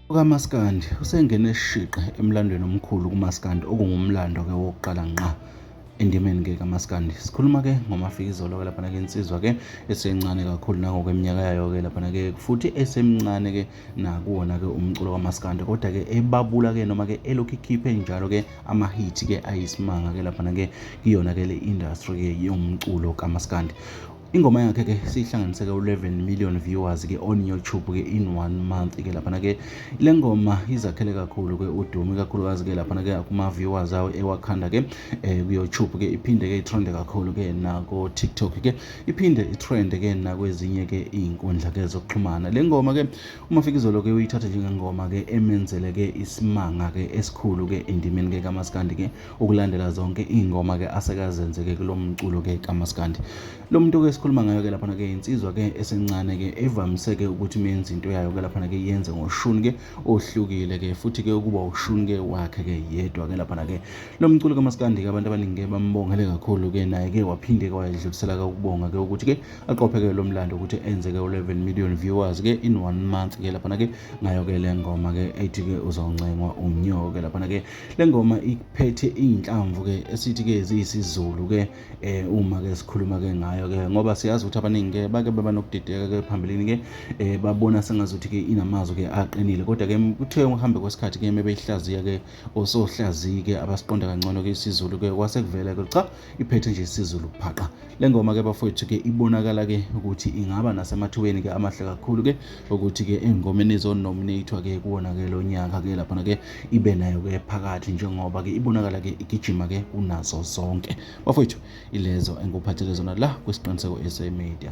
UKaMaskandi usengene shiqe emlandweni omkhulu kuMaskandi okungumlando-ke wokuqala ngqa endimeni ke kamaskandi sikhuluma ke ngomafikizolo ke laphana ke insizwa ke esencane kakhulu nangokweminyaka yayo ke laphana ke futhi esemncane ke nakuwona ke umculo kamaskandi kodwa ke ebabula ke noma ke elokhu ikhiphe njalo ke amahithi ke ayisimanga ke laphana ke kuyona ke le industry ke yomculo kamaskandi Ingoma yakhe ke siyihlanganise ke u-11 million viewers ke on YouTube ke in one month ke laphana ke le ngoma izakhele kakhulu ke udumo ikakhulukazi ke laphana ke kuma-viewers awo ewakhanda ke eh, ku-YouTube ke iphinde ke itrende kakhulu ke nako-TikTok ke iphinde itrende ke nakwezinye ke iy'nkundla ke zokuxhumana le ngoma ke umafikizolo ke uyithatha njengengoma ke emenzele ke isimanga ke esikhulu ke endimeni ke kamaskandi ke Ukulandela zonke iy'ngoma ke asekazenzeke kulo mculo ke kamaskandi lo muntu ke esikhuluma ngayo ke laphana ke insizwa ke esencane ke evamise ke ukuthi uma yenza into yayo ke laphana ke yenze ngoshuni ke ohlukile ke futhi ke ukuba ushuni ke wakhe ke yedwa ke laphana ke lo mculo kamaskandi ke abantu abaningi ke bambongele kakhulu ke naye ke waphinde ke wayedlulisela ke ukubonga ke ukuthi ke aqopheke lo mlando ukuthi enze ke u-11 million viewers ke in one month ke laphana ke ngayo ke le ngoma ke ethi ke uzawuncengwa umnyoko ke laphana ke le ngoma iphethe iy'nhlamvu-ke esithi-ke ziyisizulu-ke um uma-ke sikhuluma-ke ngayo-ke ngoba siyazi ukuthi abaningi-ke bake baba nokudideka-ke phambilini-ke um babona sengazuthi-ke inamazwi-ke aqinile kodwa-ke kuthe ukuhambe kwesikhathi-ke mebeyihlaziya-ke osohlaziyi-ke abasiqonda kangcono-ke isizulu-ke kwase kuvela-ke cha iphethe nje isizulu phaqa le ngoma ke bafowethu ke ibonakala ke ukuthi ingaba nasemathubeni ke amahle kakhulu ke ukuthi ke engomeni ezonominathwa ke kuwona ke lo nyaka ke laphana ke ibe nayo ke phakathi njengoba ke ibonakala ke igijima ke kunazo zonke bafowethu ilezo engikuphathele zona la kwisiqiniseko SA Media